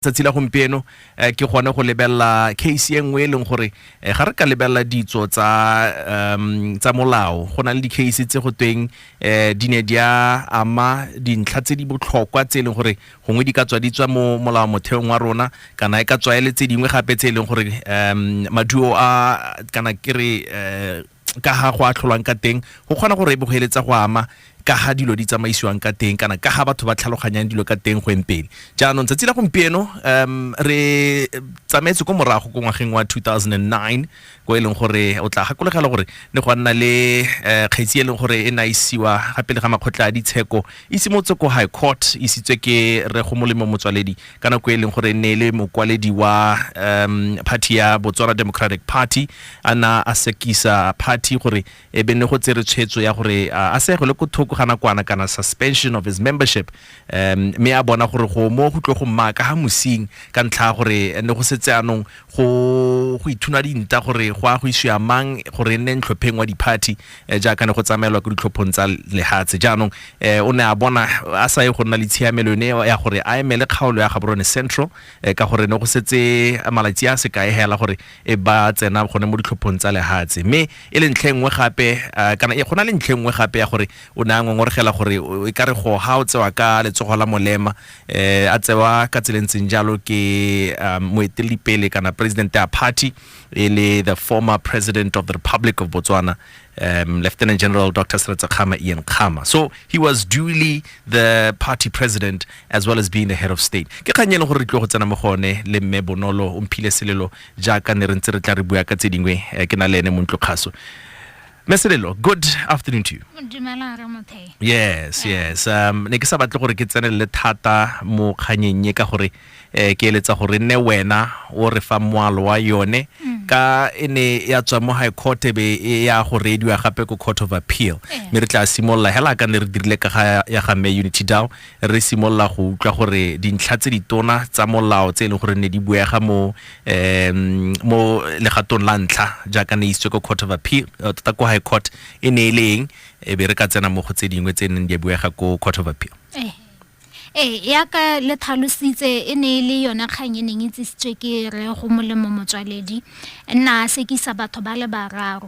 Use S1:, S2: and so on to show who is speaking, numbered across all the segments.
S1: tsatsi la gompieno eh, ke gone go lebelela case e nngwe e leng gore eh, ga re ka lebelela ditso tsa um, tsa molao go na le di-case tse go tweng eh, di ne di a ama dintlha tse di botlhokwa tse e leng gore gongwe di ka tswa di tswa mo molao motheong wa rona kana e ka tswa e le tse dingwe gape tse e leng gore um, maduo a kana ke re eh, ka ga go atlholwang ka teng go kgona gore e be go eletsa go ama ka ga dilo di tsamaisiwang ka teng kana ka ga batho ba tlhaloganyang dilo ka teng go empele jaanong tsatsi la gompieno um re tsamaetse ko morago ko ngwageng wa 2009 ko e leng gore o tla gakolegela gore ne go nna le eh, kgetsi e leng gore e ne a isiwa gape le ga makgotla a ditsheko e simotse ko high court e isitswe ke re go molemo motswaledi ka nako e leng gore e ne e le mokwaledi wa um party ya botswana democratic party a na a sekisa party gore e be ne go tsere tshwetso ya gore a a segele ko thoko ga nakwana kana suspension of his membership um mme a bona gore go mo go tlo go mmaka ga mosing ka ntlha ya gore ne go setse anong go go ithuna dinta gore go a go isiwa mang gore e nne ntlhopheng wa di-party eh, jaaka ne go tsamaelwa ko ditlhophong tsa lehatshe jaanong eh, o ne a bona a sa ye go nna le tshiamelo yone ya gore a emele kgaolo ya gaborone central eh, ka gore ne go setse malatsi a sekae hela gore e ba tsena gone mo ditlhophong tsa lehatshe mme e le ntlhe nngwe gape eh, kana e- go na le ntlhe nngwe gape ya gore o ne a ngongoregela gore o- e ka re go ga o tsewa ka letsogo la molema eh a tsewa ka tsela e ntseng jalo ke um, moeteledipele kana president ya party e le the former president of the republic of botswana um, lieutenant general dr seretsa khama ian khama so he was duly the party president as well as being the head of state ke kgang e leng gore re tlo go tsena mo go one le mme bonolo o mphile selelo jaaka ne re ntse re tla re bua ka tse dingwe eh, ke na le ene mo ntlokgaso meselelo good afternoon to you yes yes um ne ke sa batle gore ke tsenelele thata mo kganyeng e ka gore um ke eletsa gore nne wena o re fa moalo wa yone mm. ka e ne ya tswa mo high court e be e ya go reediwa gape ko court of appeal eh. mme re tla simolola hela ka ne re dirile ka ga ya ga mme unity dow re simolola go utlwa gore dintlha tse ditona tsa molao tse e leng gore ne di buega mo um mo legatong la ntlha jaaka ne isitswe ko court of appeal eh, tota ko high court e ne e le eng e be re ka tsena mo go tse dingwe tse neng di a buega ko court of appeal Eh.
S2: ee yaka le tlhalositse e ne e le yone kgang e neng e tsisitswe ke re go molemo motswaledi nna a sekisa batho ba le bararo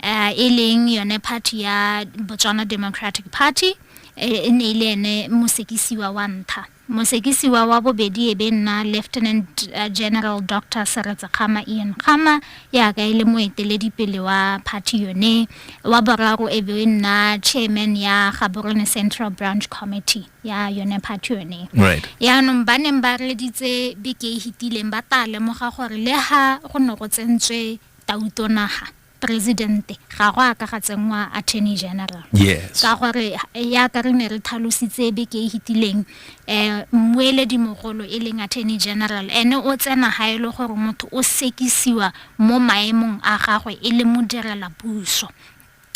S2: um e leng yone party ya botswana democratic party eh, e ne e le ene mosekisiwa wa ntha Mosekisiwa wa bobedi e be nna Lieutenant General Doctor Seretse Kgama, Ian Kgama, yaka e le moeteledipele wa party yone. Wa boraro e be e nna chairman ya Gaborone Central Branch Committee ya yone party yone. Right. Yaanong ba neng ba reditse beke e hitileng ba taa lemoga gore le ha go ne go tsentswe tautonaga, presidente ga go a ka ga tsenngwa attorney general yes ka gore ya ka re ne re tlhalositse be ke e hitileng um mmueledi mogolo e leng attorney general ene o tsena ga e le gore motho o sekisiwa mo maemong a gagwe e le modirela puso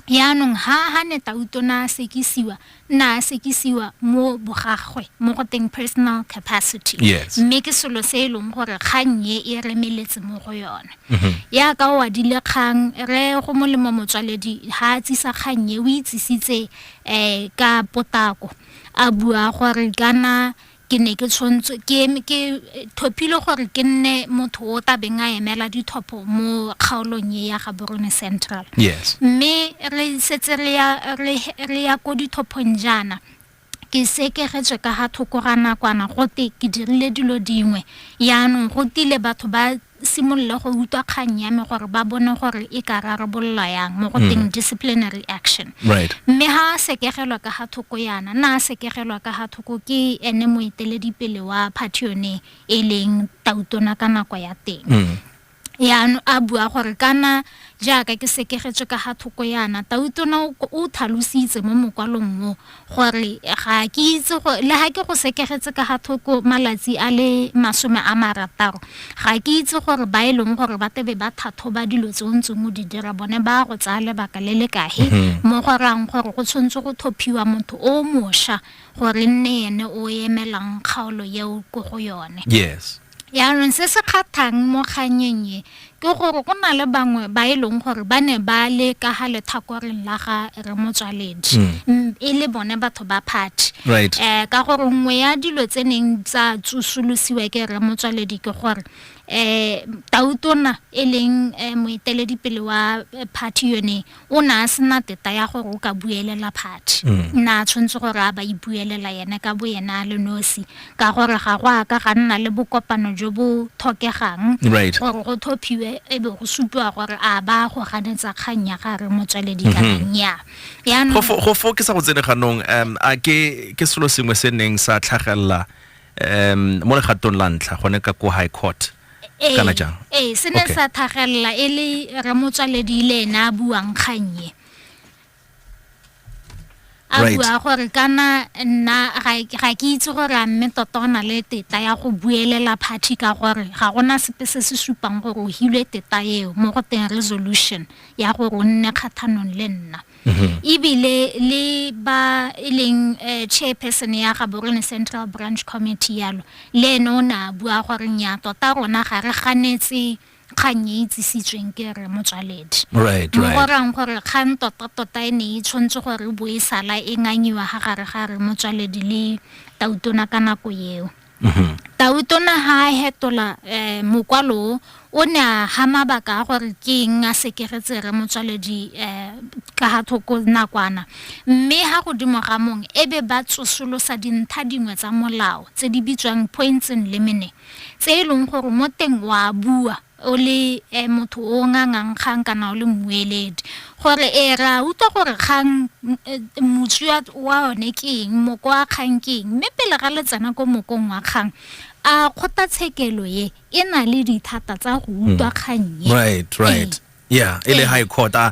S2: yaanong ha ha ne tautona a sekisiwa na a sekisiwa mo bogagwe mo go teng personal capacity yes. mme ke selo se e leng gore kgang ye e remeletse mo go yone mm -hmm. ya ka o adile kgang re go molemo motswaledi ha a tsisa kgang ye o itsisitse um ka potako a bua gore kana ke ne ke tshwantswe ke ke thopile gore ke nne motho o ta beng a emela dithopho mo kgaolong e ya ga Borone Central yes mme re setse re ya re re ya ko dithophong jaana ke sekegetswe ka ga thoko ga nakwana gote ke dirile dilo dingwe yaanong go tile batho ba simolola go utlwa kgang ya me gore ba bone gore e ka rarabololwa yang mo go mm. teng disciplinary action mme ha a sekegelwa ka ga thoko yana na a sekegelwa ka ga thoko ke ene moeteledipele wa party yone e leng tautona ka nako ya teng mm. yaano a bua gore kana jaaka ke sekegetswe ka ga thoko yana tautona o thalositse mo mokwalong mo gore ga ke itse go le ha ke go sekegetse ka ga thoko malatsi a le masome a marataro ga ke itse gore ba e leng gore ba tebe ba thathoba dilo tse o ntseng o di dira bone ba go tsaya lebaka le le kae mhm. mo go rang gore go tshwanetse go thophiwa motho o mosha gore nne ene o emelang kgaolo eo ko go yone yes Jaanong se se kgathang mo kganyeng e ke gore go na le bangwe ba e leng gore ba ne ba le ka ga lethakoreng la ga re motswaledi mm, e le bone batho ba party hmm. right. eh, ka gore
S1: nngwe
S2: ya dilo tse neng tsa tsosolosiwa ke re motswaledi ke gore eh tautona e leng eh, moeteledipele wa eh, party yone o ne a sena teta ya gore o ka buelela phathi mm. nna a tshwanetse gore a ba ipuelela yene ka bo yena a le nosi ka gore ga go a ka ga nna le bokopano jo bo thokegang gore go
S1: thophiwe
S2: e be go supiwa gore a ba go ganetsa kgang ya gare motsweledi ka mm-hmm. nnya go fo ke sa go tsene
S1: ganong um a ke ke selo sengwe se neng sa tlhagelela um mo legatong la ntlha gone ka ko high court Ee, kana jang ee se ne Okay. sa
S2: thagelela e le ramotswaledi le ene a buang kgannye a Right. bua gore kana nna ga- ga ke itse gore a mme tota o na le teta ya go buelela party ka gore ga gona sepe se se supang gore o hilwe teta eo mo go teng resolution ya gore o nne kgathanong le nna mhm. ebile le ba e leng eh, chairperson ya ga borone central branch committee yalo le ene o ne a bua gore nya tota rona ga re ganetse kgang e itsisitsweng ke re motswaledi mo go rang
S1: gore kgang
S2: totatota e ne e tshwanetse gore bo e sala e nganyiwa ga gare ga re motswaledi le tautona ka nako eo Tautona ha a hetola eh, mokwalo o, o ne a ha mabaka a gore ke eng a sekeretse re motswaledi eh, ka ga thoko nakwana mme ha godimo ga mong e be ba tsosolosa dintha dingwe tsa molao tse di bitswang points in limine tse e leng gore mo teng wa bua o le eh, motho o ngangang kgang kana o le mmueledi gore e eh, ra utlwa gore kgang eh, motsu wa one ke eng moko wa kgang ke eng mme pele ga le tsena ko mokong wa kgang a kgothatshekelo ye e na le dithata tsa go utlwa hmm. kgang ye right right ee.
S1: yeah e le high court a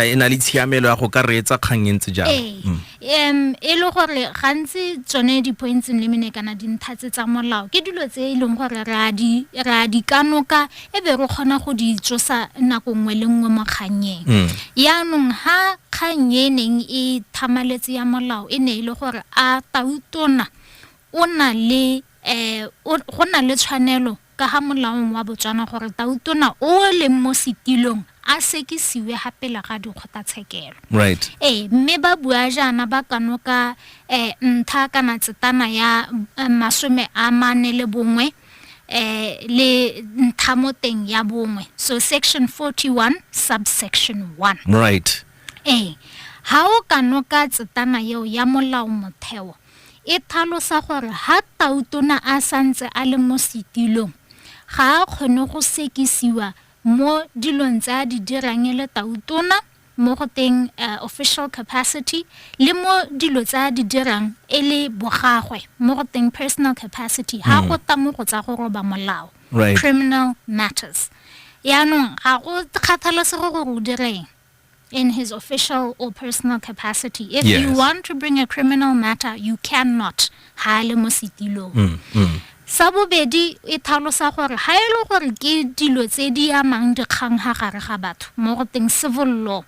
S1: e na le tshiamelo ya go ka reetsa kgang e ntse jang um mm. e
S2: le gore gantsi tsone di-points le mene kana dintlha tse tsa molao ke dilo tse e leng gore re a di kanoka e be re kgona go di tsosa nako nngwe le nngwe mo kgannyeng mm. yaanong ha kgang e neng e thamaletse ya molao e ne e le gore a tautona o na le um go na le tshwanelo Ka ga molaong wa Botswana gore tautona o o leng mo setilong a sekisiwe ga pele ga dikgotatshekelo. Right. Ee,
S1: mme ba bua
S2: jaana ba kanoka um ntha kana tsetana ya um masome a mane le bongwe um le ntha mo teng ya bongwe. So section 41 subsection 1. Right.
S1: Ee,
S2: ha o kanoka tsetana eo ya molao motheo, e tlhalosa gore ha tautona a santse a le mo setilong ga a kgone go sekisiwa mo dilong tse a di dirang e le tautona mo go teng uh, official capacity le mo dilo tsa di dirang e le bogagwe mo go teng personal capacity ha go mm. ta mo go tsa go roba molao criminal matters yaanong ga go kgathalesego gore o direng in his official or personal capacity. If yes. you want to bring a criminal matter, you cannot. Hale mo setilong. Mm, mm. sa bobedi e tlhalosa gore ga e le gore ke dilo tse di amang dikgang ga gare ga batho mo go teng civil law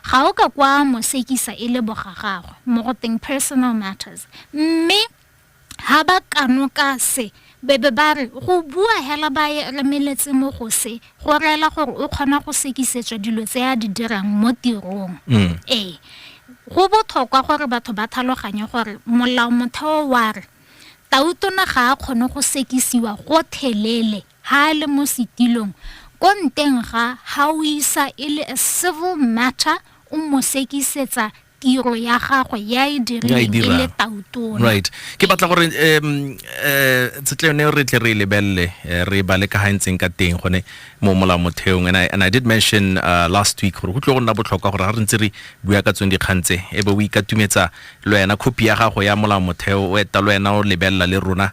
S2: ga o ka kwa mosekisa e le boga gagwe mo go teng personal matters mme Ha ba kano ka se, be be ba re, Go bua hela ba e remeletse mo go se, go reela gore o kgona go sekisetswa dilo tse a di dirang mo tirong. Mm. Ee. Go botlhokwa gore batho ba thaloganye gore molao motheo wa re, Tautona ga a kgone go sekisiwa go thelele ha a le mo setilong ko nteng ga ha o isa e le a civil matter o mo sekisetsa tiro ya gagwe ya e dirileng e le tautona right ke batla
S1: gore um uh, tshetleo ne re tle re e lebelele eh, re bale ka ga e ntseng ka teng gone mo molao motheong and I, and I did mention uh, last week gore go tlo go nna botlhokwa gore ga re ntse re bua ka tsone dikgang tse e be o ikatumetsa le wena copy ya gago ya molao motheo o eta le wena o lebelela le rona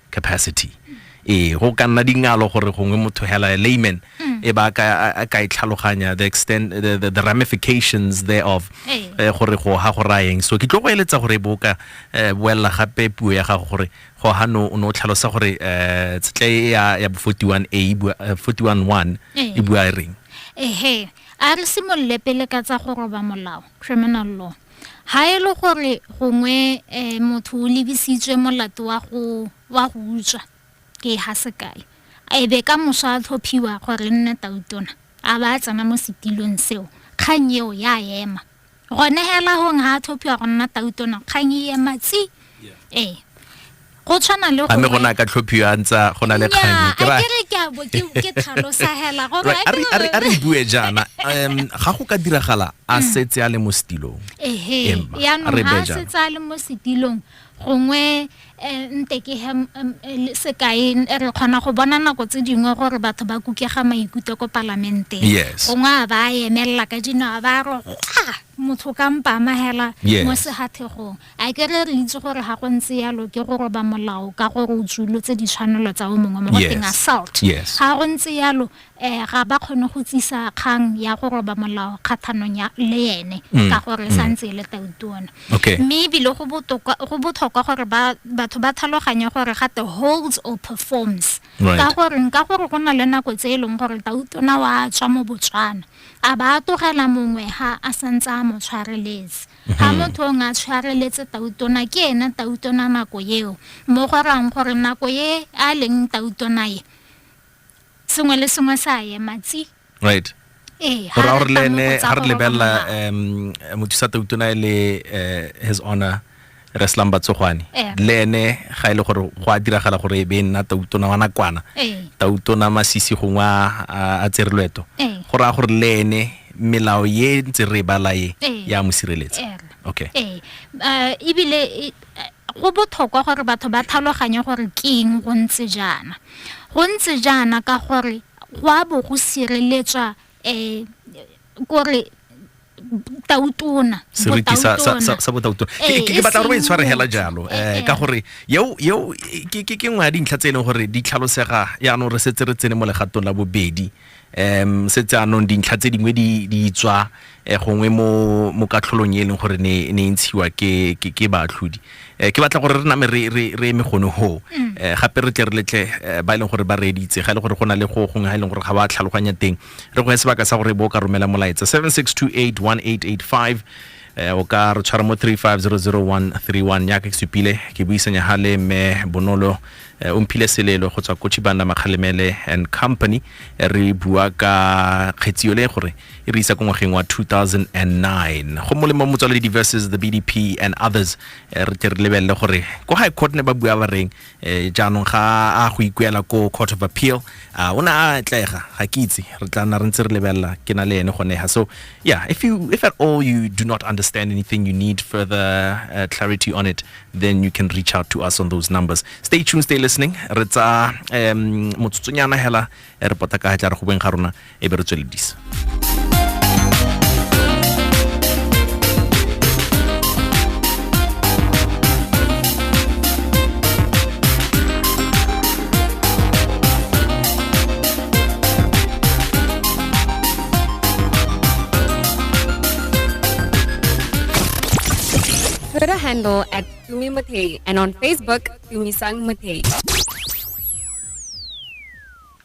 S1: capacity ee go ka nna dingalo gore gongwe motho hela layman mm. e ba a ka e tlhaloganya the extent the, the, the ramifications thereof eh, gore go ha go rayeng so ke tlo go eletsa gore e bo ka eh, boelela gape puo ya gago gore go ha no o ne o tlhalosa gore eh, tstle e ya ya 41 a 41 1 e bua e reng ehe
S2: a re simolole pele ka tsa go roba molao criminal law ga e le gore gongwe um motho o lebisitswe molato wa go wa go utswa ke ha sekae e be ka moso a tlhophiwa gore nne tautona a ba a tsena mo setilong seo kgang eo ya ema gone hela gong ga a tlhophiwa go nna tautona kgang e ema tsi ee go tshwana le gore go na ka tlhophiwa a
S1: ntsa go na le kgang ke ra ke ke bo ke ke tlhalosa
S2: hela go ra re re re bue
S1: jana um ga go ka diragala a mm. setse a le mo setilong ehe ya
S2: no ha setse a le mo setilong gongwe eh, nte ke he sekai re kgona go bona nako tse dingwe gore batho ba kukega maikutlo ko palamenteng gongwe a ba emelela ka dinao ba re motho ka mpamagela mo segathegong A ke re re itse gore ga go ntse yalo ke go roba molao ka gore o tsulotse ditshwanelo tsa o mongwe mo go teng assault. Ga go ntse yalo um ga ba kgone go tsisa kgang ya go roba molao kgathanong le ene mm. ka gore sa mm. ntse e le tautuona. Mme ebile go botlhokwa gore batho ba tlhaloganye gore ga te holds or performs. Ka gore nka gore go na le nako tse e leng gore tautona wa tswa mo Botswana a ba a tlogela mongwe ha a santse a mo tshwareletse. ga mhm. motho ong a tshwareletse tautona ke ena tautona nako eo mo go rang gore nako e a leng tautona e sengwe le sengwe sa ema tsi right ee,
S1: gore gore le ene ga re lebelela um motho sa tautona e le eh, his honor reslang batsogwane eh. le ene ga e le gore go a diragala gore e be nna tautona wa nakwana eh. tautona masisi gongwe a tsere loeto go raya gore le ene melao ye ntse re e bala e ya mo sireletsa okay ee ebile
S2: e, go botlhokwa gore batho ba tlhaloganye gore keng go ntse jaana go ntse jaana ka gore go a bo go sireletswa um kore tautona seriti
S1: sa botautona eh, ke batla gore ba itshware e hela jalo eh, eh, ka gore yeo ke nngwe ya dintlha tse e leng gore di tlhalosega yaanong re setse re tsene mo legatong la bobedi um setse anong dintlha tse dingwe di tswa um gongwe mo katlholong e e leng gore ne e ntshiwa ke baatlhodi um ke batla gore re name re eme gone goo um gape re tle re letle ba e leng gore ba reeditse ga e le gore go na le go gongwe ga e leng gore ga ba tlhaloganya teng re go ya sebaka sa gore bo ka romela molaetsa 7628 1885 eh, o ka re tshwara mo 3500131 yaka ke supile ke buisanya ha le mme bonolo eh, o mphile selelo go tswa ko chibanda makgalemele and company eh, re bua ka kgetsio le gore e re isa ko ngwageng wa 2009 go molemo motswaledi versus the bdp and others re tle re lebelele gore ko high court ne ba bua ba reng eh jaanong ga a go ikuela ko court of appeal a o ne a tlega ga ke itse re tla nna re ntse re lebelela ke na le ene gone ha so yeah if you if at all you do not understand anything you need further uh, clarity on it then you can reach out to us on those numbers stay tuned stay listening re tsa um motsotsonyana hela e re pota ka ga tla re go beng ga rona e be re tsweledisa
S3: Twitter handle at Tumi Matei and on Facebook, Tumisang Matei.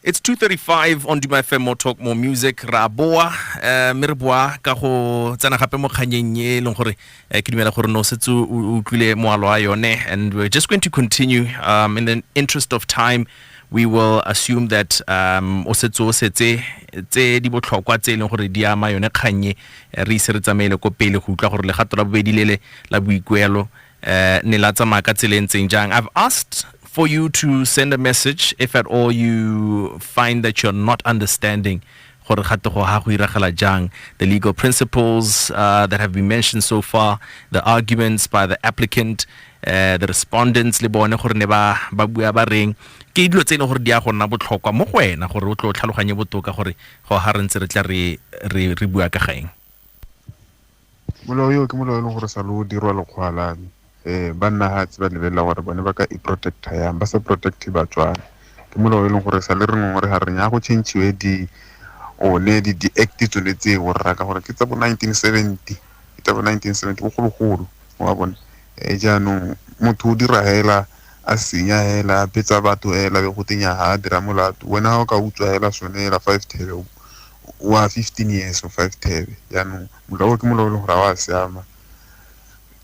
S1: It's 235 on Duma FM More Talk More Music ra boa eh, mme re boa ka go tsena gape mo kganyeng e leng gore eh, ke dumela gore no setse o o utlwile moalo wa yone and we're just going to continue um, in the interest of time we will assume that um, o setse o setse tse di botlhokwa tse e leng gore di ama yone kgannye eh, re ise re tsamaele ko pele go utlwa gore legato la bobedi lele la boikuelo uh, ne la tsamaya ka tsela e ntseng jang i've asked for you to send a message if at all you find that you're not understanding gore gato go ha go iragala jang the legal principles uh, that have been mentioned so far the arguments by the applicant uh, the respondents le bone gore ne ba ba bua ba reng ke dilo tse e leng gore di ya go nna botlhokwa mo go wena gore o tlo tlhaloganye botoka gore go ha re ntse re tla re re bua ka gaeng Molao
S4: eo ke molao e leng gore sa lo dirwa lekgwa la me um banna ga tse ba lebelela gore bone ba ka i-protecta yang ba sa protect batswana ke molao e leng gore sa le re ngwe gore ga re nya go changiwe di one di di-act tsone tse borra ka gore ke tsa bo nineteen seventy ke tsa bo nineteen seventy bogologolo wa bone um jaanong motho o dira hela a senya hela a betsa batho hela be go tenya ga a dira molato wena ga o ka utswa hela sone hela five thebe wa fifteen years o five thebe jaanong molao o ke molao e leng gore a wa siama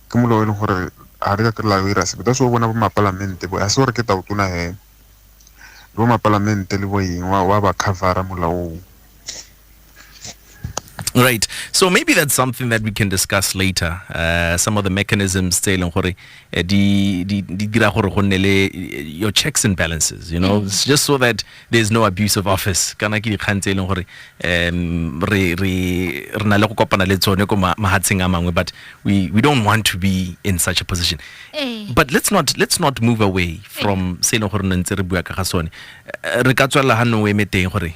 S4: ke molao e leng gore ga re ka kry-la o ira sepe that's o bona bo mapalamente bo a se gore ke taotona hee le bo mapalamente le bo eng wa ba covera molaong
S1: Right. So maybe that's something that we can discuss later. Uh, some of the mechanisms tse leng gore eh, di di di dira gore go nne le eh, your checks and balances, you know, mm. just so that There is no abuse of office kana ke dikgang tse e leng gore um re re re na le go kopana le tsone ko ma- mahatsheng a mangwe but we we don't want to be in such a position Eh. but let's not let's not move away from se e leng gore ne ntse re bua ka ga sone Eh, re ka tswelela ga nne o eme teng gore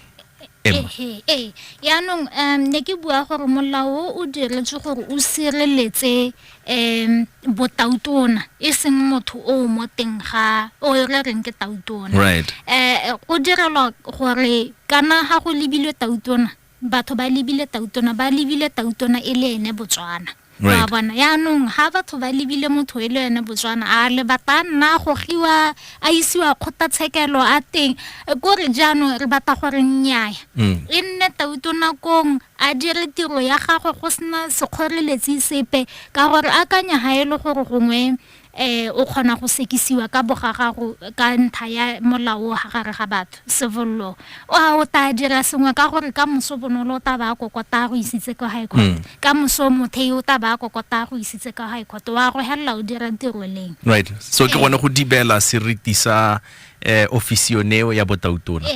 S1: Emma. Ehe, ee
S2: yaanong um ne ke bua gore molao o o diretswe gore o sireletse um botautona e seng motho o o mo teng ga o re reng ke tautona right
S1: eh go direlwa
S2: gore kana ga go lebilwe tautona batho ba lebile tautona ba lebile tautona e le ene botswana Right. wa bona
S1: yaanong ga
S2: batho ba lebile motho e le ene botswana a lebata nna gogiwa a isiwa kgotlatshekelo a teng ko re jaanong re batla gore nnyaya mm. e nne tauto nakong a dire tiro ya gagwe go sena sekgoreletsi sepe ka gore akanya ga e le gore gongwe um o kgona go sekisiwa ka bogagago ka ntlha ya molao ga gare ga batho Sevollo o a o tla dira sengwe ka gore ka moso bonolo o tla ba kokota go isitse kwa high court mm. ka moso mothei o tla ba kokota go isitse kwa high court wa go helela o dira tiro leng right so ke gone
S1: go dibela seriti sa eh, ofisi yoneo ya botautona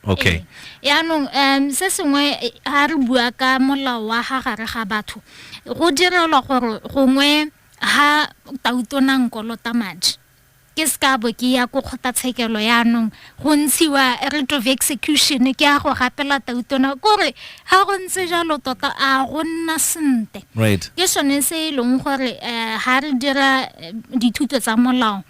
S1: okay yaanong
S2: um se sengwe ga re bua ka molao wa ga gare ga batho go direlwa gore gongwe ga tautona nkolota madi Ke se ka bo ke ya ko kgotlatshekelo yaanong go ntshiwa writ of execution ke a go rapela tautona kore ga go ntse jalo tota a go nna sente right ke sone
S1: se e leng
S2: gore um ga re dira eh, dithuto tsa molao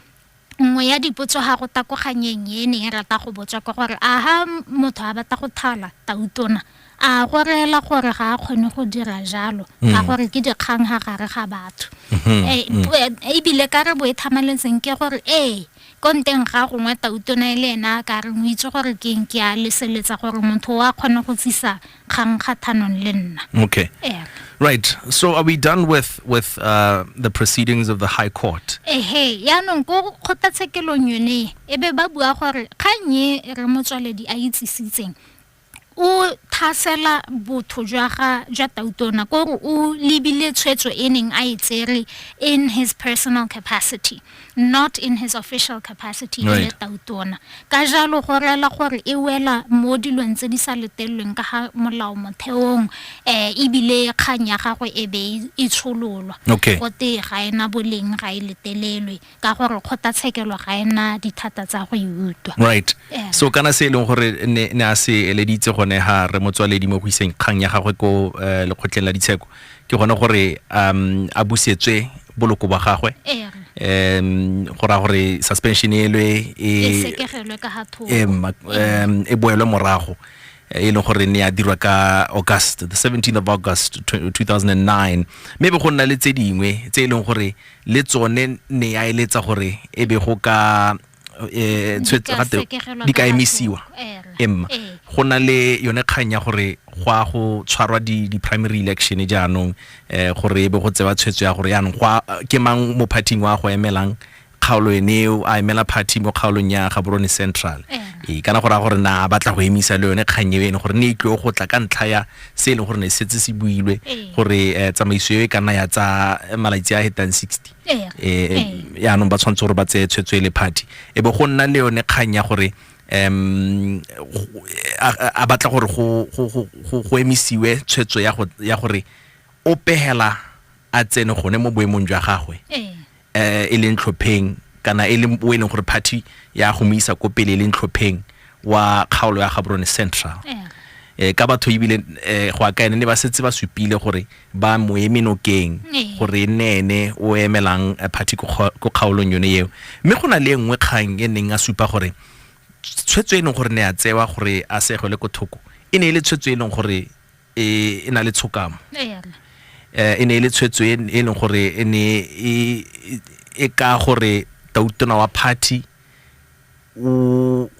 S2: nngwe ya dipotso ga go takoganyeng e ne e rata go botswa ke gore a ga motho a batla go thala tautona a go reela gore ga a kgone go dira jalo mm. ka gore ke dikgang ga gare ga batho mm-hmm. eh, mm. eh, ebile ka re bo e thamaletseng ke gore ee ko nteng ga gongwe tautona e le ena a ka reng o itse gore ke eng ke a leseletsa gore motho o a kgone go tsisa kgang kgathanong le nna okay yeah.
S1: Right. So are we done with with uh, the proceedings of the High Court? Ehe, yaanong ko
S2: kgotlatshekelong yone e be ba bua gore kgang e re motswaledi a itsisitseng o thasela botho jwa ga jwa tautona ko gore o lebile tshwetso e neng a e tsere in his personal capacity not in his official capacity e le tautona ka jalo go rela gore e wela mo dilong tse di sa letelelweng ka ga molao motheong um ebile kgang ya gagwe e be e tshololwa gote ga ena boleng ga e letelelwe ka gore kgotlatshekelo ga e na dithata tsa go e utlwa right yeah. so
S1: kana se e leng gore ne ne a se eleditse gone ha re motswaledi mo go iseng kgang ya gagwe ko uh, lekgotleng la ditsheko ke gone gore um a busetswe boloko ba gagwe yeah. um go ra gore suspension elwe e, e sekegelwe
S2: ka ha
S1: thoko e boelwe morago e leng gore ne ya dirwa ka august the 17th of august 2009 mme be go nna le tse dingwe tse e leng gore le tsone ne ya eletsa gore e be go ka eh, di ka emisiwa emma eh. go na le yone kgang ya gore go a go tshwarwa di-primary election jaanong um gore e be go tsewa tshwetso ya gore yaanong ke mang mo partyng wa go emelang kgaolo ene eo a emela party mo kgaolong ya gaborone central ee kana go raya gore na a batla go emisa le yone kgang eo ene gore ne e tlio go tla ka ntlha ya se e leng gore ne se setse se builwe gore um tsamaiso eo e ka nna ya tsa malatsi a hetang sixty um yaanong ba tshwanetse gore ba tseye tshwetso e le party e be go nna le yone kgang ya gore um a batla gore go emisiwe tshwetso ya gore o pegela a tsene gone mo boemong jwa gagwe eh, e leng tlhopheng kana e leng o e leng gore party ya go mo isa ko pele e leng tlhopheng wa kgaolo ya gaborone central eh, ka batho ebile eh, go aka ene ne ba setse ba supile gore ba mo eme nokeng gore e nne ene o emelang eh, party ko kga- ko kgaolong yone eo mme go na le e nngwe kgang e neng a supa gore tshwetso e leng gore ne a tsewa gore a segwele ko thoko e ne e le tshwetso e leng gore e e na le tshokamo Eya, rra. eh, e ne e le tshwetso e e leng gore e ne e- e- e ka gore tautona wa party o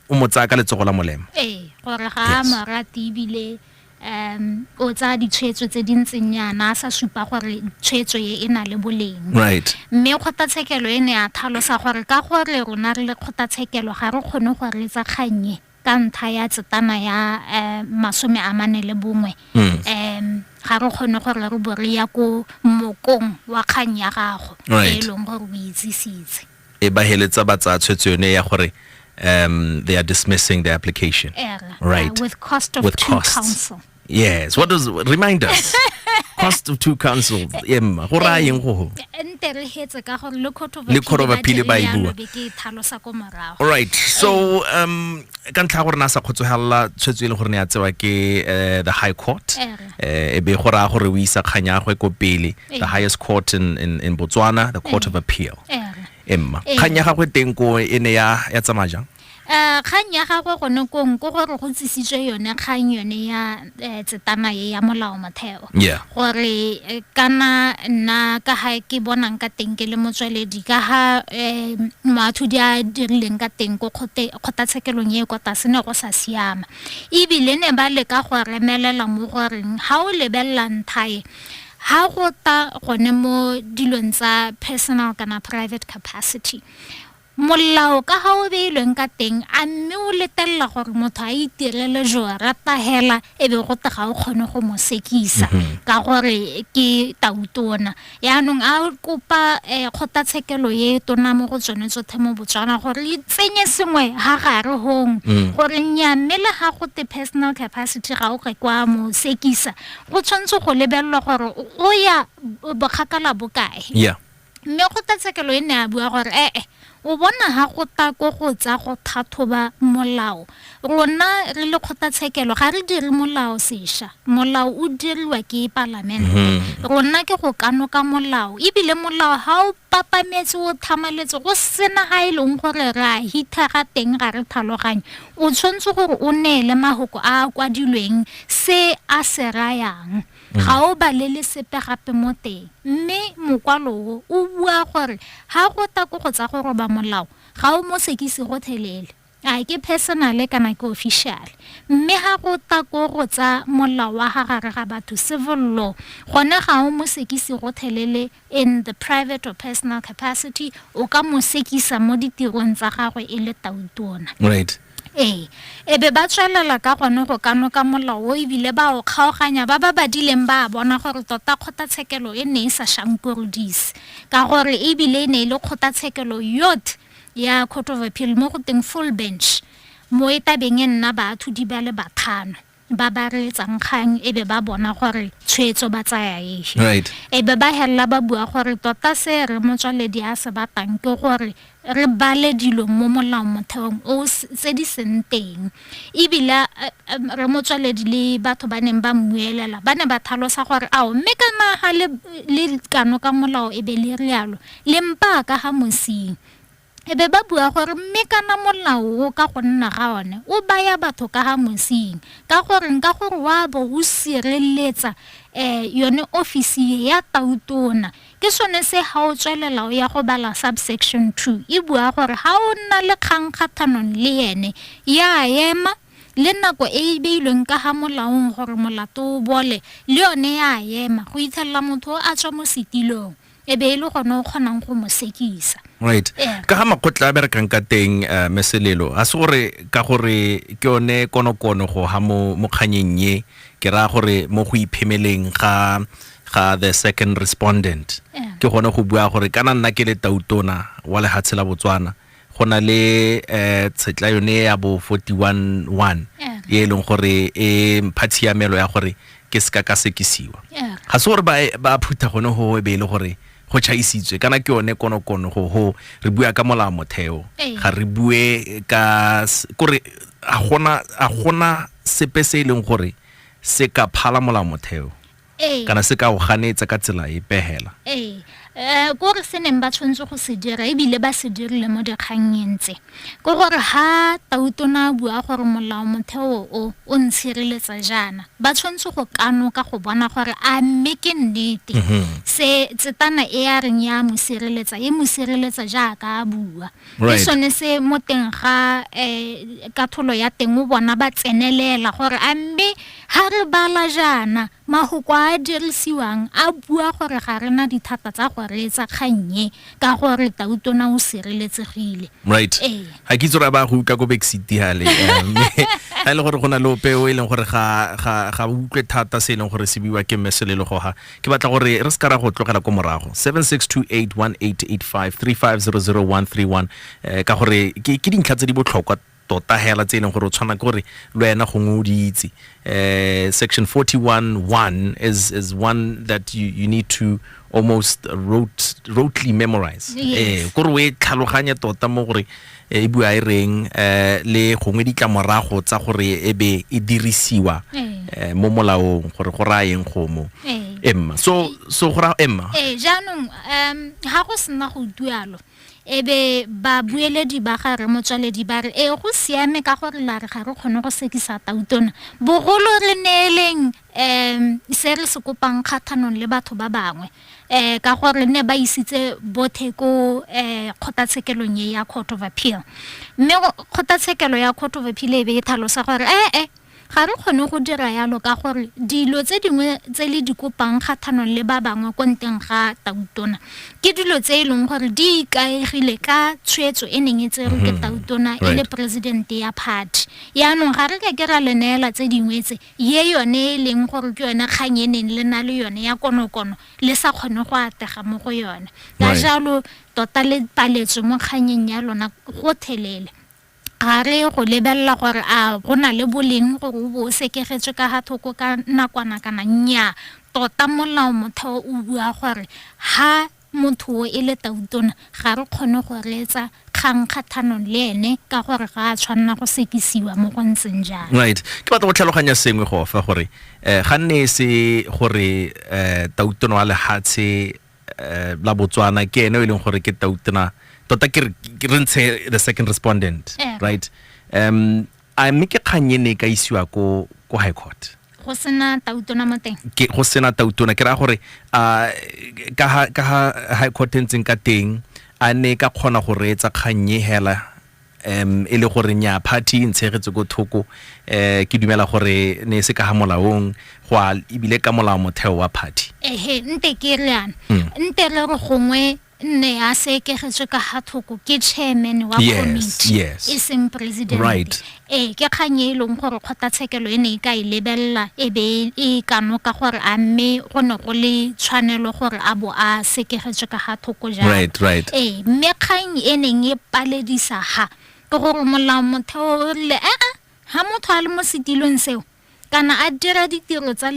S1: o mo tsaya ka letsogo la molema ee gore ga a Yes.
S2: morate ebile um o tsaya ditshwetso tse di ntseng yana a sa supa gore tshwetso e e na le boleng right mme
S1: kgotlatshekelo
S2: e ne ya thalosa gore ka gore rona re le kgotlatshekelo ga re kgone go reetsa kgannye ka ntlha ya tsetana ya um masome a mane le bongwe um ga re kgone gore re bo re ya ko mokong wa kgang ya gago e e leng gore o itsisitse e ba heletsa
S1: ba tsaya tshwetso yone ya gore um they are dismissing the application right uh, with cost of with
S2: two costs. counsel Yes. What does
S1: remind us? Cost of two councils. Emma, go raya eng go? Nte re hetse ka gore le
S2: khotho ba le khotho ba phile ba ibua. Ke
S1: thalosa ko morago. All right. So um ka ntlha gore na sa khotsohella tshwetso ile gore ne ya tsewa ke eh, the high court. Eh e be go raya gore o isa khanya go ko pele the highest court in in, in Botswana, the court of appeal. Emma, khanya ga go teng ko ene ya ya tsamajang. Eh, kgang ya
S2: gagwe gone kong ko gore go tsisitswe yone kgang yone ya eh, tsetana e ya molao motheo gore eh, kana nna ka ga ke bonang ka teng ke le motsweledi ka ga um moathodi a dirileng ka teng ko kgotlatshekelong e kwa tlase ne go sa siama ebile ne ba leka go remelela mo goreng ga o lebelela nthae ha go ta gone mo dilong tsa personal kana private capacity Molao ka ga o beilweng ka teng, a mme o letelela gore motho a itirele jo rata hela e be gote ga o kgone go mo sekisa mhm. ka gore ke tautona yaanong a kopa um kgotlatshekelo e tona mo go tsone tsothe mo botswana gore e tsenye sengwe ha gare gong mm. gore nya mme le ga gote personal capacity ga o rekwa mo sekisa go tshwanetse go lebelelwa gore o ya bokgakala bokae yeah. Mme kgotlatshekelo e ne ya bua gore ee, o bona ha go ta ko go tsa go thathoba molao. Rona re le kgotlatshekelo ga re dire molao sesha. Molao o diriwa ke palamente. Mhm. Rona ke go kanoka molao. Ebile molao ha o papametse o thamaletse go sena ha e leng gore re a hitha ga teng ga re tlhaloganye. O tshwanetse gore o neele mahoko a a kwadilweng se a se rayang. ga o balele sepe gape mo teng mme mokwalo o o bua gore ga go ta ko go tsa go roba molao ga o mo sekise go thelele a ke personale kana ke official mme ga go ta ko go tsa molao wa ga gare ga batho civil law gone ga o mo sekise go thelele in the private or personal capacity, o ka mo sekisa mo ditirong tsa gagwe e le tautona. Right.
S1: ee e
S2: be ba tswelela ka gone go ka noka molao o ebile ba o kgaoganya ba ba badileng ba bona gore tota kgotlatshekelo e ne e sa shankorodise ka gore ebile e ne e le kgotlatshekelo yot ya court of appeal mo go teng full bench mo e tabeng e nna baathodi ba le bathano ba ba reetsang kgang e be ba bona gore tshwetso ba tsaya efe right e be
S1: ba helela
S2: ba bua gore tota se re motswaledi a se batlang ke gore re bale dilo mo molao motheong o s- tse di seng teng ebile eh, eh, re motswaledi le batho ba neng ba mmuelela ba ne ba thalosa gore ao mme ka naga le, le kano ka molao e be le rialo le mpaa ka ga mosing E be ba bua gore, Mme kana molao o ka go nna ga one o baya batho ka ga Mosing. Ka goreng? Ka gore wa bo o sireletsa um yone ofisi e ya tautona. Ke sone se ga o tswelela o ya go bala subsection two e bua gore ga o nna le kgang kgathanong le ene ya ema le nako e e beilweng ka ga molaong gore molato o bole le yone ya ema go itlhelela motho o a tswa mo setilong e be e le gone o kgonang go mo sekisa right yeah. ka ga
S1: makgotla a berekang ka teng uh, meselelo ga se gore ka gore ke yone konokono go ga mo mokganyeng ye ke raya gore mo go iphemeleng ga ga the second respondent yeah. ke gone go bua gore kana nna ke le tautona wa lehatshe la botswana go na le eh tshetla yone ya bo 41 e leng gore e mpha tshiamelo ya gore ke seka ka sekisiwa ga se gore ba phutha gone go e be e le gore go chaisitswe kana ke yone konokono go ho re bua ka molao motheo ga re bue ka kore a gona a gona sepe se e leng gore se ka phala molao motheo Ee. kana se ka o ganetsa ka tsela e pehela ee um
S2: kore se neng ba tshwanetse go se dira ebile ba se dirile mo dikgannyeng tse ke gore ga tautona a bua gore molao motheo o o ntshireletsa jaana ba tshwanetse go kanoka go bona gore a mme ke nnete mhm. se tsetana e a reng ya mo sireletsa e mo sireletsa jaaka a bua ke sone se mo teng ga um katlholo ya teng o bona ba tsenelela gore a mme ga re bala jaana mafoko a a dirisiwang a bua gore ga re na dithata tsa go reetsa kgannye ka gore tautona o sireletsegile right ee.
S1: ga ke itse gore a ba go utlwa ko backsiti gale ga e le gore go na le ope o e leng gore ga utlwe thata se e leng gore se buiwa ke mmeselelo goga ke batla gore re se ka ra go tlogela ko morago 76281885 eh, ka gore ke ke dintlha tse di botlhokwa tota hela tse e leng gore o tshwana ke gore le wena gongwe o di itse eh, section 41 1 is, is one that you, you need to almost rote, rotely memorize Yes. eh, kore o e tlhaloganye tota mo gore e bua e reng eh, le gongwe ditlamorago tsa gore e be e dirisiwa eh, mo molaong gore go raya eng gomo Ee. emma so so go raya emma ee jaanong um
S2: ga go sena go utualo e be babueledi ba ga re motswaledi ba re ee go siame ka gore la re ga re kgone go sekisa tautona bogolo re neeleng um se re se kopang kgathanong le batho ba bangwe ka gore ne ba isitse bothe ko um kgotatshekelong e ya court of appeal mme kgotatshekelo ya court of appeal e be e tlhalosa gore ee ga re kgone go dira yalo ka gore dilo tse dingwe tse le di kopang kgathanong le ba bangwe ko nteng ga tautona ke dilo tse e leng gore di ikaegile ka tshwetso e neng e tserwe ke tautona e le presidente ya party yaanong ga re ka ke ra le neela tse dingwe tse ye yone e leng gore ke yone kgang e neng le na le yone ya konokono le sa kgone go atega mo go yone ka Right. jalo tota le paletswe mo kganyeng ya lona gothelele ga re go lebelela gore a go na le boleng gore o bo o sekegetswe ka ga thoko ka nakwana kana nnyaa tota molao motheo o bua gore ha Motho o e le tautona ga re kgone go reetsa kgang kgathanong le ene ka gore ga a tshwanela go sekisiwa mo go ntseng jalo. Right. Ke batla go tlhaloganya
S1: sengwe go fa gore eh, ga nne e se gore eh, tautona wa lehatshe eh, la Botswana ke ene o e leng gore ke tautona tota ke re- ke re ntshe the second respondent Eh. right um A mme ke kgang e ne e ka isiwa ko ko high court? go sena
S2: tautona mo teng Ke go sena tautona
S1: ke raya gore a ka ha ka ha high court e ntseng ka teng a ne e ka kgona go reetsa kgang e hela um e le gore nya party e ntshegetse ko thoko um ke dumela gore ne e se ka ga molaong go a ebile ka molao motheo wa party ehe nte ke re
S2: yana nte re re gongwe nne a se ekegetswe ka ga thoko ke chairman wa committee yes. e seng president right. ee ke kgang e e leng gore kgotlatshekelo e ne e ka e lebelela e be e kano ka gore a mme go ne go le tshwanelo gore a bo a sekegetswe ka ga thoko jang right, right. ee mme kgang e neng e paledisa ga ke gore molao motheo o rile aa ga motho a le mo setilong seo kana a dira ditiro tsa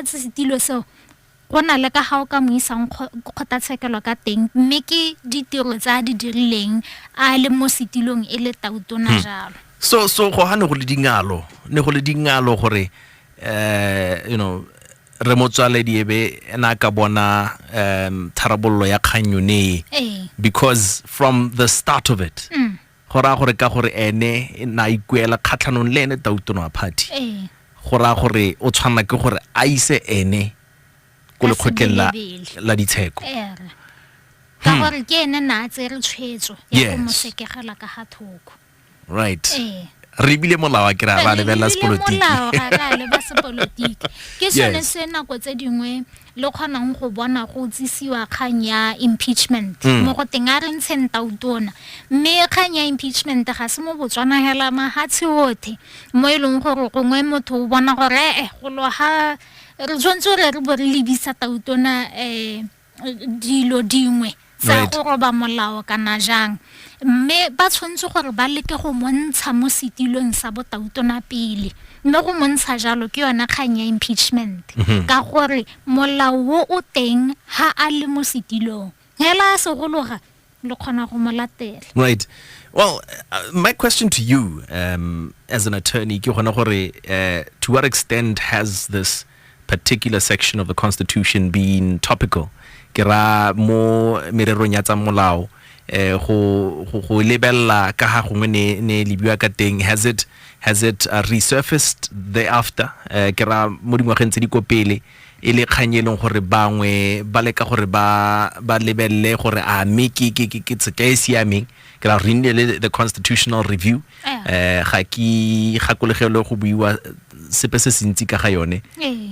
S2: setilo seo Go na le ka ga o ka mo isang kgotlatshekelo ka teng mme ke ditiro tse a di dirileng a le mo setilong e le tautona hmm. jalo. So so go ha
S1: ne go le dingalo, ne go le dingalo gore eh you know re motswaledi ebe ena ka bona um tharabololo ya kgang yone because from the start of it mm. go raya gore ka gore ene na a ikuela kgatlhanong le ene tautono wa party ee go raya gore o tshwanela ke gore a ise ene ko Ka lekgotleng la, sebelebele. la ditsheko ere
S2: ka gore ke ene na a tsere tshwetso ya go Hmm. Yes. mo sekegela ka ga thoko right
S1: ee re ebile molao a kry ra lebelela sepolotiki molao ga re a leba
S2: sepolotiki ke sone Yes. se nako tse dingwe le kgonang go bona go tsisiwa kgang ya impeachment mm. mo go teng a re ntsheng tautona mme kgang ya impeachment ga se mo botswana hela mahatshe othe mo e leng gore gongwe motho o bona gore ee eh, golo ga re tshwanetse gore re bo re lebisa tautona um dilo dingwe tsa go roba molao kana jang mme ba tshwanetse gore ba leke go montsha mo setilong sa botautona pele mme go montsha jalo ke yone kgang ya impeachment mhm. ka gore molao o o teng ha a le mo setilong hela a segologa le kgona go mo latela right
S1: well uh, my question to you um, as an attorney ke gona gore uh, to what extent has this particular section of the constitution being topical ke ra mo mererong ya tsa molao eh go go go lebella ka ha gongwe ne ne lebiwa ka teng has it has it uh, resurfaced thereafter eh ke ra mo dingwageng tse di ko pele e le kgang e leng gore bangwe ba leka gore ba ba lebelele gore a mme ke ke ke ke tseka e siameng ke ra re nne le the constitutional review eh ga ke gakolegelo go buiwa sepe se sentsi ka ga yone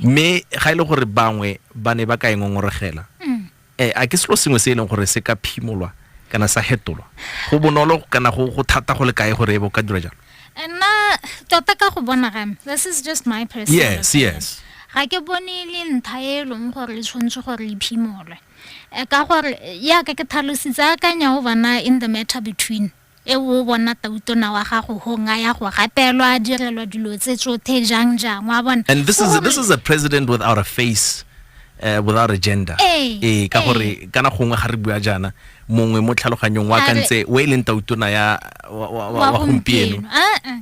S1: mme ga ile e gore bangwe ba ne ba ka engongorogela e mm. eh a ke selo sengwe se e leng gore se ka phimolwa kana sa hetolwa go bonolo kana go go thata go le kae gore e bo ka dira jalo nna
S2: tota ka go bona ga this is just my personal yes yes ga
S1: ke bone
S2: le ntha e leng gore le tshwanetse gore le phimolwe Eh, ka gore yaka ke tlhalositse akanya o bona in the matter between e o bona tautona wa gago hong a ya go gatelwa a direlwa dilo tse tsothe jang jang wa bona and this is, this is a
S1: president without a face uh, without a gender ee eh, ka gore kana gongwe ga re bua jaana mongwe mo tlhaloganyong wa ka ntse o e leng tautona ya wa gompieno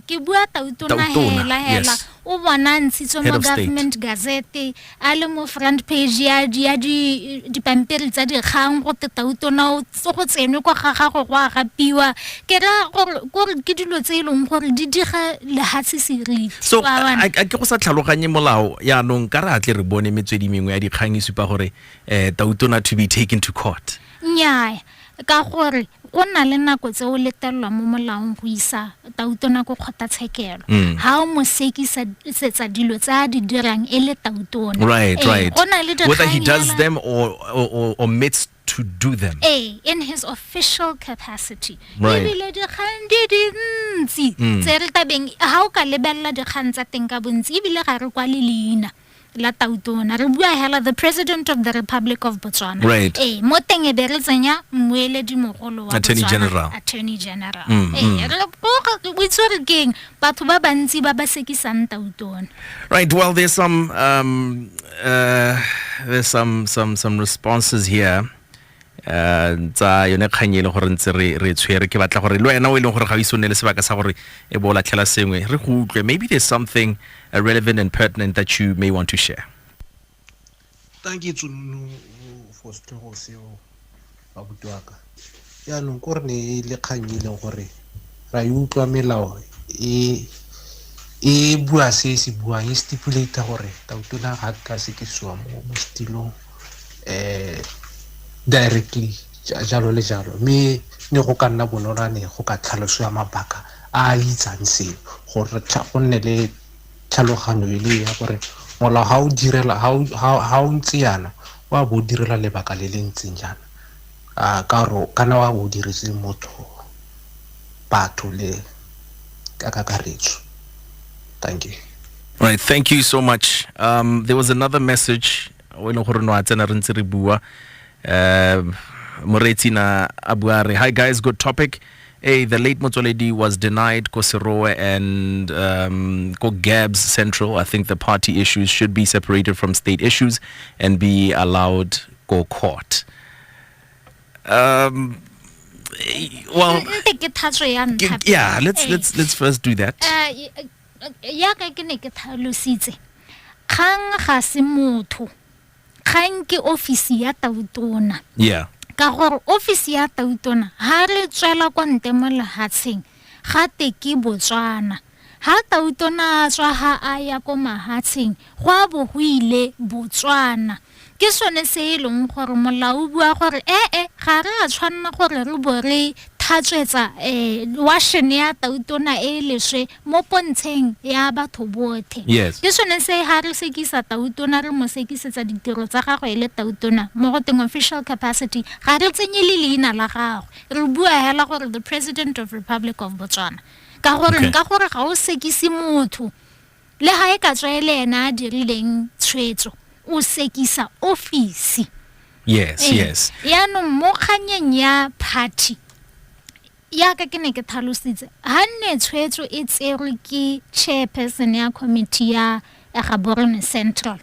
S1: ke bua
S2: tautona hela hela o bona ntshitswe mo government gazette a le mo front page ya di ya di dipampiri tsa dikgang go teta o tona o tse go tsenwe kwa ga gago go a gapiwa ke ra gore gore ke dilo tse e leng gore di diga lehatshe seriti so Wa bona? a a
S1: ke go sa tlhaloganye molao yaanong ka re a tle re bone metswedi mengwe ya dikgang e supa gore um tautona to be taken to court nnyaya
S2: Ka gore go na le nako tse o letelelwa mo molaong go isa tautona ko kgotlatshekelo mm. ga o mo sekisetsa dilo tse a di dirang e le tautona right, eh, right.
S1: whether he does them or, or, or, or meets to do them eh, in his
S2: official capacity ebile
S1: dikgang di
S2: dintsi mm. tse re tabeng ga o ka lebelela dikgang tsa teng ka bontsi ebile ga re kwa le leina la tautona re bua hela the president of the republic of botswana right. e mo teng
S1: e be re
S2: tsenya mmueledi mogolo wa attorney general attorney
S1: general
S2: mm, e mm. re o itse re keng batho ba bantsi ba ba sekisang tautona right well there's
S1: some um uh, there's some some some responses here um tsa yone kgang e leng gore ntse re tshwere ke batla gore le wena o e leng gore ga o ise o nne le sebaka sa gore e bo o latlhela sengwe re go utlwe maybe there's something uh, relevant and pertinent that you may want to share
S5: thank you tsununu for setlhogo seo babuti wa ka jaanong ko re ne e le kgang e leng gore ra e utlwa melao e e bua se se buang e stipulata gore tautona ga ka se ke siwa mo setilong um directly jalo le jalo mme ne go ka nna bonoloane go ka tlhalosiwa mabaka a a itsang seo gore go nne le tlhaloganyo e le ya gore molao ga o direla ga o ntse yana o a bo o direla lebaka le le ntseng jaana A ka gore o kana wa o diretse motho batho le ka kakaretso thank you Right, thank
S1: you so much. Um, there was another message o e leng gore no a tsena re ntse re bua um moreetsi na a bua a re hi guys good topic hey the late motswaledi was denied ko serowe and um, ko gabs central i think the party issues should be separated from state issues and be allowed go court Um, well, yeah, let's let's let's first do that. Uh, uh,
S2: ya ka ke ne ke tlhalositse kgang ga se motho kgang ke ofisi ya tautona yeah ka
S1: gore
S2: ofisi ya tautona ha re tswela kwa ntle mo lehatsheng Ga te ke Botswana. Ha Tautona a tswa ha a ya ko mahatsheng, go a bo go ile Botswana. Ke sone se e leng gore molao o bua gore ee ga re a tshwanela gore re bo re thatswetsa um washene ya Tautona e leswe mo pontsheng ya batho bothe. Yes. Ke sone se
S1: ha re
S2: sekisa Tautona re mo sekisetsa ditiro tsa gagwe e le Tautona mo go teng official capacity ga re tsenye le leina la gagwe. re bua hela gore the president of republic of botswana ka gore okay. ka gore ga o sekise motho le ga e ka tswa e le ene a dirileng tshwetso o sekisa office yes e,
S1: yes yaanong
S2: mo kganyeng ya party yaka ke ne ke tlhalositse ga nne tshwetso e tserwe ke chairperson ya committee ya gaborone central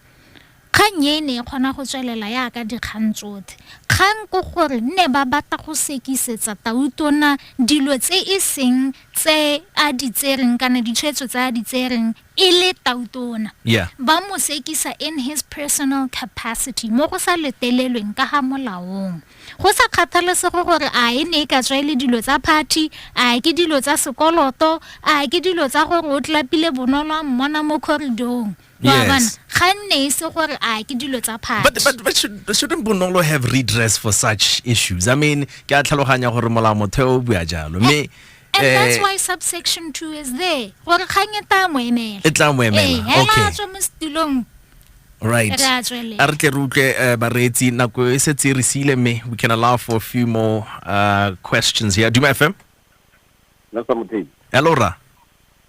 S2: Kgang e e ne e kgona go tswelela yaka dikgang tsothe. Kgang ko gore nne ba batla go sekisetsa Tautona dilo tse e seng tse a di tsereng kana ditshwetso tse a di tsereng e le Tautona. Yeah. Ba mo sekisa in his personal capacity mo go sa letelelweng ka ga molaong. Go sa kgathalesege gore a e ne e ka tswa e le dilo tsa party, a ke dilo tsa sekoloto, a ke dilo tsa gore o tlapile bonolo a mmona mo corridor-ong.
S1: yes. but, but, but should, shouldn't bonolo have redress for such issues i mean ke a tlhaloganya gore molao motheo o bua jalo mme And eh,
S2: that's why subsection 2 is there. Gore kgang e tla mo emela. E tla mo emela. Eh, okay.
S1: Ela tswa mo setulong.
S2: Right.
S1: A re tle re utlwe eh, bareetsi nako e setse re siile mme we can allow for a few more uh, questions here. Duma FM. Nna sa
S6: mothei. Hello ra.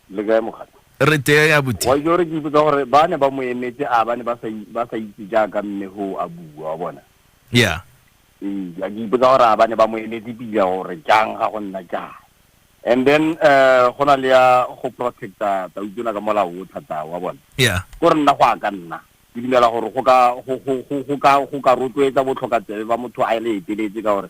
S1: Le kae
S6: mogata? Re tea ya buti.
S1: Wa jore ke ipotsa gore
S6: ba ne ba mo emetse a ba ne ba sa ba sa itse jaaka mme ho a bua wa bona. Yeah.
S1: Ee,
S6: ke ipotsa gore a ba ne ba mo emetse pila gore jang ga go nna jang. And then eh go na le ya go protecta ta utswela ka molao o thata wa bona. Yeah. Go re nna go a ka nna. Ke dumela gore go ka go go go go ka go ka rotloetsa botlhoka tsebe ba motho a le eteletse ka gore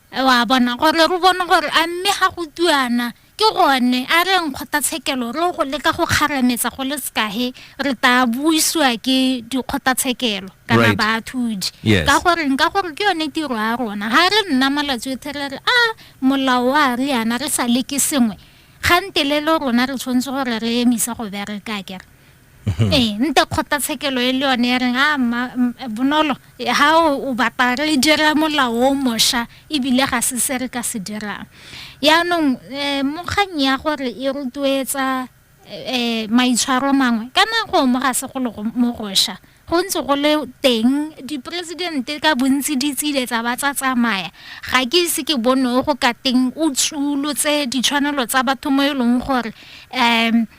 S2: wa bona gore re bone gore a mme ga go tuana ke gone a re nkgotatshekelo re go leka go kgarametsa go le sekahe re ta buisiwa ke dikgotatshekelo kana Right. baathudi Yes. ka gore nka gore ke yone tiro ya rona ga re nna malatsi otlhe re re a molao wa re yana re sa leke sengwe gante le le rona re tshwanetse gore re emisa go bereka kere Mhm. ee nte kgotlatshekelo e le yone ya reng a bonolo ga o batla re dira molao o mošwa ebile ga se se re ka se dirang yaanong um mo kgang ya gore e rotloetsa um maitshwaro mangwe ka nako mo ga segolo mo gošwa go ntse go le teng diporesidente ka bontsi di tsile tsa ba tsa tsamaya ga ke ise ke bone go ka teng o tsulotse ditshwanelo tsa batho mo e leng gore um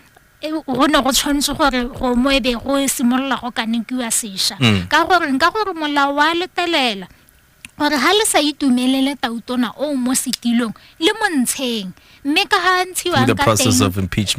S2: go ne go tshwanetse gore go mo ebe go simolola go kanekiwa sesha mm. ka gore nka gore molao wa letelela gore ga le sa itumelele tautona o mo setilong le mo ntsheng mme ka ga ntshiwang ka teng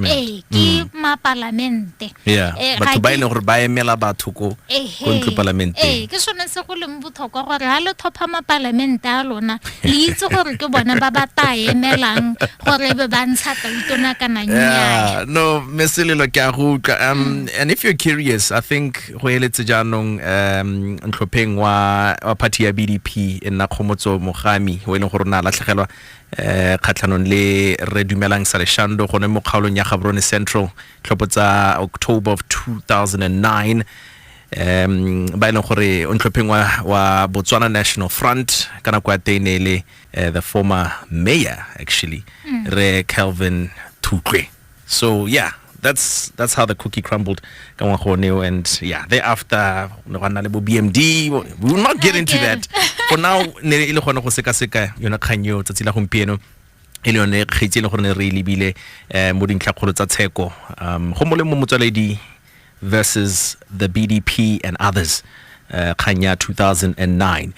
S2: ee
S1: ke mm.
S2: mapalamente eh, batho
S1: ba e leng gore ba emela batho ko ntlo palamenteng ee ke sone se go leng
S2: tlhokwa gore ha le tlhopha mapalamente a lona le itse gore ke bone ba ba ta emelang gore e be ba ntsha tautona kana nnyaya no meselelo
S1: ke a go utlwa um mm. and if you're curious i think go eletse jaanong um ntlhopheng wa wa party ya bdp e nna kgomotso mogami o e leng gore o ne a latlhegelwa eh khatlhanong le re dumelang sa leshando gone mo kgaolong ya gaborone central tlhopho tsa october of 2009 um ba e leng gore o ntlhopheng wa, wa botswana national front ka nako ya teng ne e le uh, the former mayor actually mm. re calvin thutlwe so yeah that's that's how the cookie crumbled ka ngwaga o neo and yeah thereafter ne go nna le bo bmd we will not get into that for now ne e le gone go sekaseka yona kgang eo tsatsi la gompieno e le yone kgetsi e le gore ne re e lebile um mo dintlhakgolo tsa tsheko um go molemo motswaledi versus the bdp and others eh, kgang ya 2009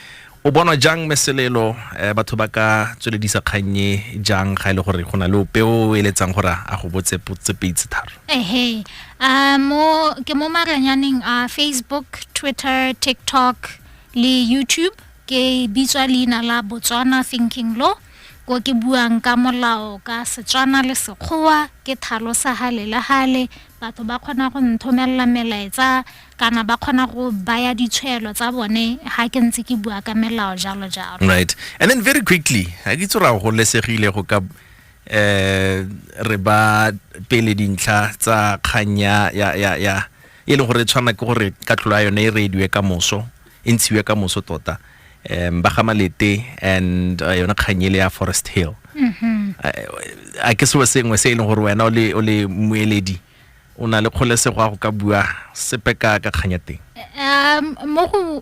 S1: o bonwa jang meselelo eh, batho ba ka tsweledisa kgannye jang ga e le gore go na le ope o eletsang gore a go botse potse pedi tse tharo ehe a mo
S2: ke mo maranyaneng a facebook twitter tiktok le youtube ke bitswa leina la botswana thinking law ko ke buang ka molao ka setswana le sekgowa ke thalo sa hale le hale Batho ba kgona go nthomelela melaetsa kana ba kgona go baya ditshwelo tsa bone ha ke ntse ke bua ka melao jalo jalo. Right. And then
S1: very quickly, ha ke tsora go lesegile go ka eh re ba pele dintlha tsa kganya ya ya ya e le gore tshwana ke gore katlholo ya yone e rediwe ka moso e ntshiwe ka moso tota um ba ga malete and uh, yone kganyele ya forest hill mm-hmm. a ke seo sengwe se e leng gore wena o le moeledi o na le kgolesego ya go ka bua sepe ka ka kganya teng
S2: um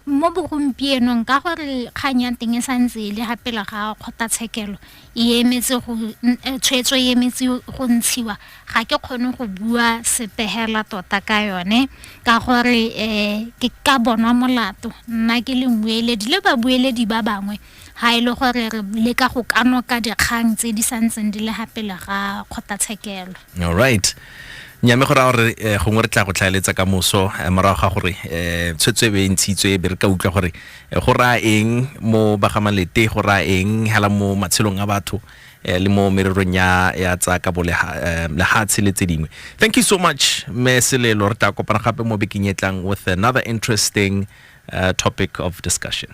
S2: mo bogompienong ka gore kganya teng e santse e le ga pela ga kgotlatshekelo e emetse go eh, tshwetso e emetse go ntshiwa ga ke kgone go bua sepegela tota ka yone ka gore um ke ka bonwa molato nna ke le mmueledi le babueledi ba bangwe ga e le gore re leka go kanoka dikgang tse di santseng di le ga pele ga kgotlatshekelo all right
S1: nyame go raya gore eh, gongwe re tla go tlhaeletsa ka moso eh, morago ga gore eh, tshwetso e be e ntshitswe e be re ka utlwa gore go raya eng mo bagamalete go raya eng hela mo matshelong a batho le mo mererong ya ya tsa ka bo lehatshe le tse dingwe thank you so much me selelo re tla kopana gape mo bekeng e tlang with another interesting uh, topic of discussion